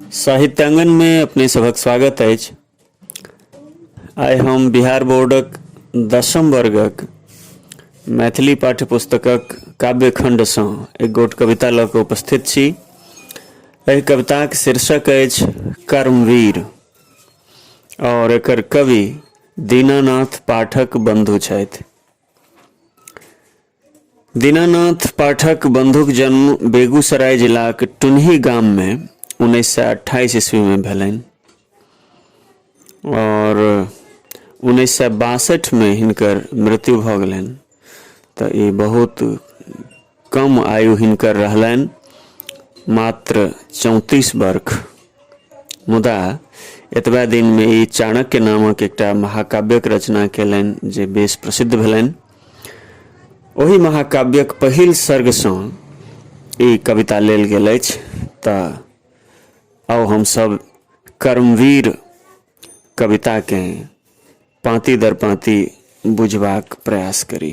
साहित्यांगन मे अपने सभक स्वागत अछि आइ हम बिहार बोर्डक दसम वर्गक मैथिली पाठ्य पुस्तकक काव्यखण्डसँ एक गोट कविता लऽ कऽ उपस्थित छी एहि कविताक शीर्षक अछि कर्मवीर आओर एकर कवि दीनानाथ पाठक बन्धु छथि दीनानाथ पाठक बंधुक जन्म बेगूसराय जिलाक टुनही गाम में उन्नैस सए अट्ठाईस ईस्वी में भेलनि और उन्नैस सए बासठ में हिनकर मृत्यु भऽ गेलनि तऽ ई बहुत कम आयु हिनकर रहलनि मात्र चौंतीस वर्ष मुदा एतबा दिन में ई चाणक्य नामक एकटा महाकाव्यक रचना केलनि जे बेस प्रसिद्ध भेलनि ओहि महाकाव्यक पहिल सर्गसँ ई कविता लेल गेल अछि तऽ आउ हमसभ कर्मवीर कविताकेँ पाँति दर पाँति बुझबाक प्रयास करी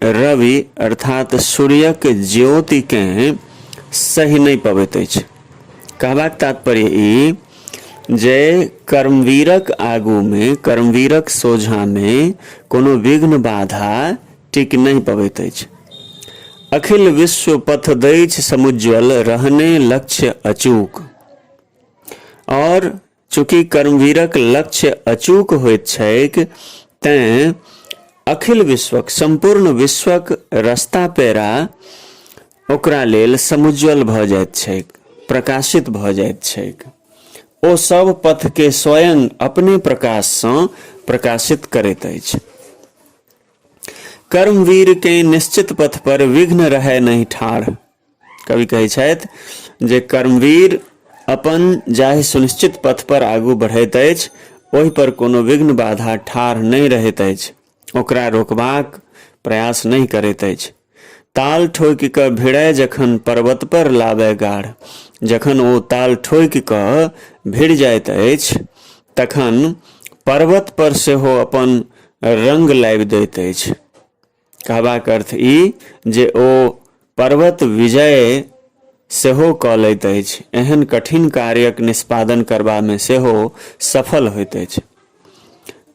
रवि अर्थात सूर्यक ज्योतिकेँ सहि नहि पबैत अछि कहबाक तात्पर्य ई जे कर्मवीरक आगूमे कर्मवीरक सोझामे कोनो विघ्न बाधा टिक नहि पबैत अछि अखिल विश्व पथ दैछ समुज्वल रहने लक्ष्य अचूक और चूँकि कर्मवीरक लक्ष्य अचूक होइत छैक तैँ अखिल विश्वक सम्पूर्ण विश्वक रस्ता पेरा ओकरा लेल समुज्ज्वल भऽ जाइत छैक प्रकाशित भऽ जाइत छैक ओ सब पथके स्वयं अपने प्रकाशसँ प्रकाशित करैत अछि कर्मवीरकेँ निश्चित पथपर विघ्न रहय नहि ठाढ़ कवि कहै छथि जे कर्मवीर अपन जाहि सुनिश्चित पथ पर आगू बढ़ैत अछि ओहि पर कोनो विघ्न बाधा ठाढ़ नहि रहैत अछि ओकरा रोकबाक प्रयास नहि करैत अछि ताल ठोकि कऽ भिड़ै जखन पर्वत पर लाबै गाढ़ जखन ओ ताल ठोकि कऽ भिड़ जाइत अछि तखन पर्वत पर सेहो अपन रंग लाबि दैत अछि कहबाक अर्थ ई जे ओ पर्वत विजय सेहो कऽ लैत अछि एहन कठिन कार्यक निष्पादन करबामे सेहो सफल होइत अछि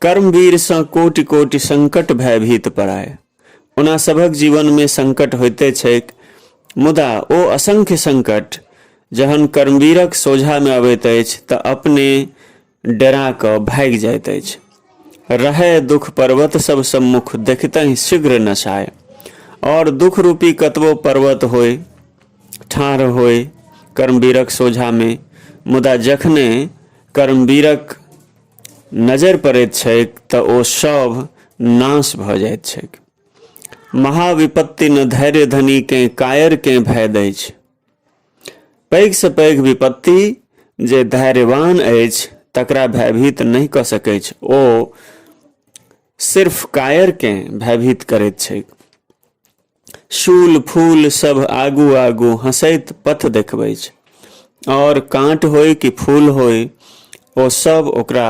कर्मवीरसँ कोटि कोटि संकट भयभीत पड़ाय ओना सभक जीवनमे संकट होइते छैक मुदा ओ असंख्य संकट जहन कर्मवीरक सोझामे अबैत अछि तऽ अपने डेरा कऽ भागि जाइत अछि रहै दुख पर्वत सब सम्मुख देखतहि शीघ्र नसाय और दुख रूपी कतबो पर्वत होय ठाढ़ होय कर्मवीरक सोझा में मुदा जखने कर्मवीरक नजर पड़ैत छैक तऽ ओ सब नाश भऽ जाइत छैक महाविपत्ति न धैर्य धनी के कायर के भय दैछ पैघसँ पैघ विपत्ति जे धैर्यवान अछि तकरा भयभीत नहि कऽ सकैत अछि ओ सिर्फ कायरकेँ भयभीत करैत छैक शूल फूल सब आगू आगू हंसैत पथ देखबै छै और कांट होय कि फूल होय ओ सब ओकरा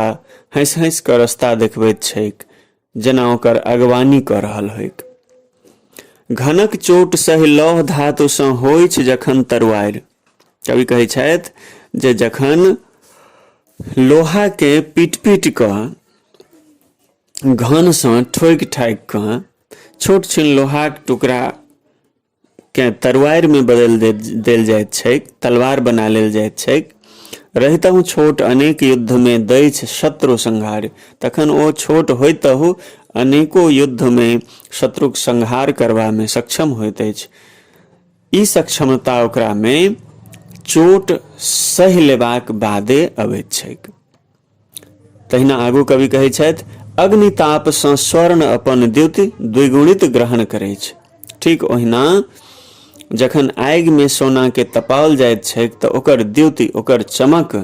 हंस हंस कऽ रास्ता देखबैत छैक जेना ओकर अगवानी कऽ रहल होइक घनक चोट सहि लौह धातुसँ होइछ जखन तरुआरि कवि कहै छथि जे जखन लोहाके पीट पीट कऽ घनसँ ठोकि ठाकि कऽ छोट छिन लोहाक टुकड़ा केँ तरुआरिमे बदलि दे, देल जाइत छैक तलवार बना लेल जाइत छैक रहितहु छोट अनेक युद्धमे दैछ शत्रु संहार तखन ओ छोट होइतहु अनेको युद्धमे शत्रुक संहार करबामे सक्षम होइत अछि ई सक्षमता ओकरामे चोट सहि लेबाक बादे अबैत छैक तहिना आगू कवि कहै छथि अग्नितापसँ स्वर्ण अपन द्युति द्विगुणित ग्रहण करै छै ठीक ओहिना जखन आगिमे सोनाके तपाओल जाइत छैक तऽ ओकर द्युति ओकर चमक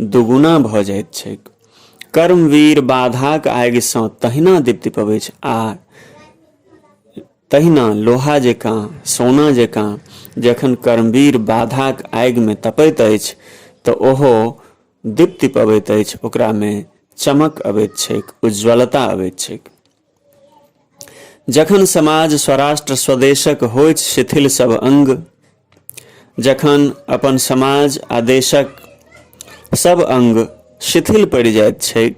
दुगुना भऽ जाइत छैक कर्मवीर बाधाक आगिसँ तहिना दीप्ति पबैत छै आ तहिना लोहा जकाँ सोना जकाँ जखन कर्मवीर बाधाक आगिमे तपैत अछि तऽ ओहो दीप्ति पबैत अछि ओकरामे चमक अबैत छैक उज्ज्वलता अबैत छैक जखन समाज स्वराष्ट्र स्वदेशक होइत शिथिल सब अंग जखन अपन समाज आ देशक सब अंग शिथिल पड़ि जाइत छैक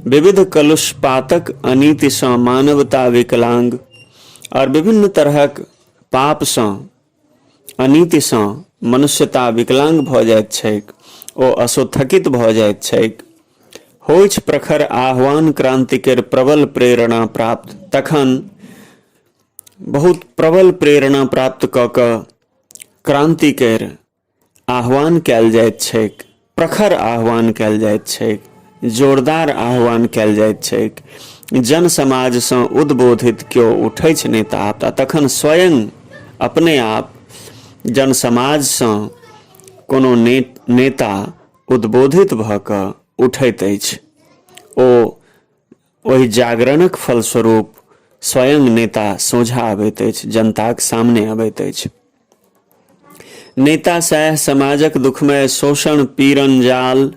विविध कलुषपातक अनीतिसँ मानवता विकलांग आओर विभिन्न तरहक पापसँ अनीतिसँ मनुष्यता विकलांग भऽ जाइत छैक ओ असोथकित भऽ जाइत छैक होइछ प्रखर आह्वान क्रान्तिकेर प्रबल प्रेरणा प्राप्त तखन बहुत प्रबल प्रेरणा प्राप्त कऽ कऽ क्रान्तिकेर आह्वान कयल जाइत छैक प्रखर आह्वान कयल जाइत छैक जोरदार आह्वान कयल जाइत छैक जन समाजसँ उद्बोधित केओ उठै छै नेता आपदा तखन स्वयं अपने आप जन समाजसँ कोनो ने, नेता उद्बोधित भऽ कऽ उठैत अछि ओ ओहि जागरणक फलस्वरूप स्वयं नेता सोझा अबैत अछि जनताक सामने अबैत अछि नेता सएह समाजक दुखमय शोषण पीरन जाल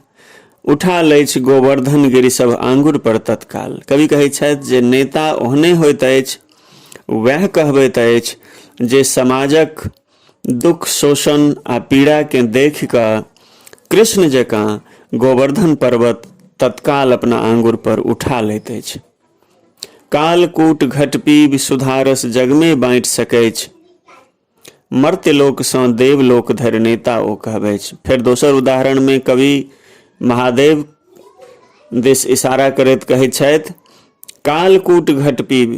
उठा लैछ गोवर्धन गिरी सब आंगुर पर तत्काल कवि कहै छथि जे नेता ओहने होइत अछि वएह कहबैत अछि जे समाजक दुख शोषण आ पीड़ा के देख कऽ कृष्ण जकाँ गोवर्धन पर्वत तत्काल अपना आंगुर पर उठा लैत अछि कालकूट घट पीब सुधारस जगमे बाँटि सकैछ मर्त्यलोकसँ देवलोक धरि नेता ओ कहबै फेर दोसर उदाहरणमे कवि महादेव दिस इशारा करैत कहैत छथि कालकूट घट पीब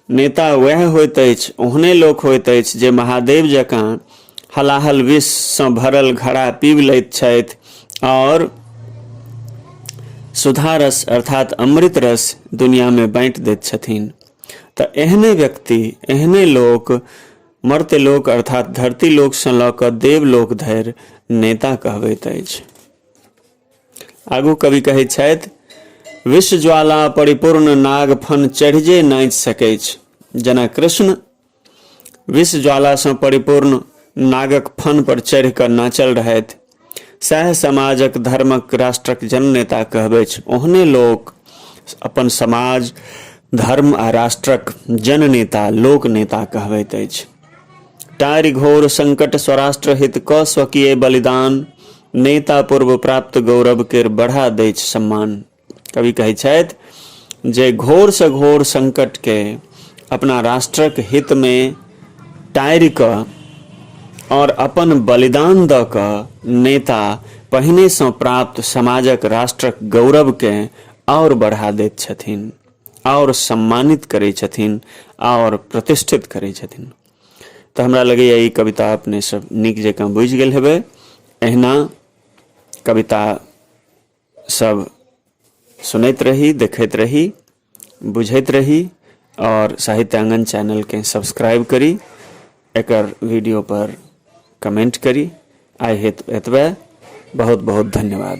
नेता वएह होइत अछि ओहने लोक होइत अछि जे महादेव जकाँ हलाहल विषसँ भरल घड़ा पीब लैत छथि आओर सुधा रस अर्थात अमृत रस दुनियामे बाँटि दैत छथिन तऽ एहने व्यक्ति एहने लोक मर्त्य लोक अर्थात धरती लोकसँ लऽ कऽ देवलोक धरि नेता कहबैत अछि आगू कवि कहै छथि विष ज्वाला परिपूर्ण नाग फन चढ़ि जे नाचि सकै जेना कृष्ण विष ज्वालासँ परिपूर्ण नागक फन पर चढ़ि कऽ नाचल रहथि सएह समाजक धर्मक राष्ट्रक जननेता कहबै ओहने लोक अपन समाज धर्म आ राष्ट्रक जननेता लोक नेता कहबैत अछि टारि घोर संकट स्वराष्ट्र हित क स्वकीय बलिदान नेता पूर्व प्राप्त गौरव के बढ़ा दै सम्मान कवि कहै छथि जे घोर से घोर संकट के अपना राष्ट्रक हित में टारि क और अपन बलिदान द क नेता पहिने से प्राप्त समाजक राष्ट्रक गौरव के और बढ़ा दैत छथिन आओर सम्मानित करै छथिन आओर प्रतिष्ठित करै छथिन तऽ हमरा लगैए ई कविता अपने सब नीक जकाँ बुझि गेल हेबै अहिना कविता सब सुनैत रही देखैत रही बुझैत रही आओर साहित्यांगन चैनलकेँ सब्सक्राइब करी एकर वीडियो पर कमेंट करी आइ हेत एतबे बहुत बहुत धन्यवाद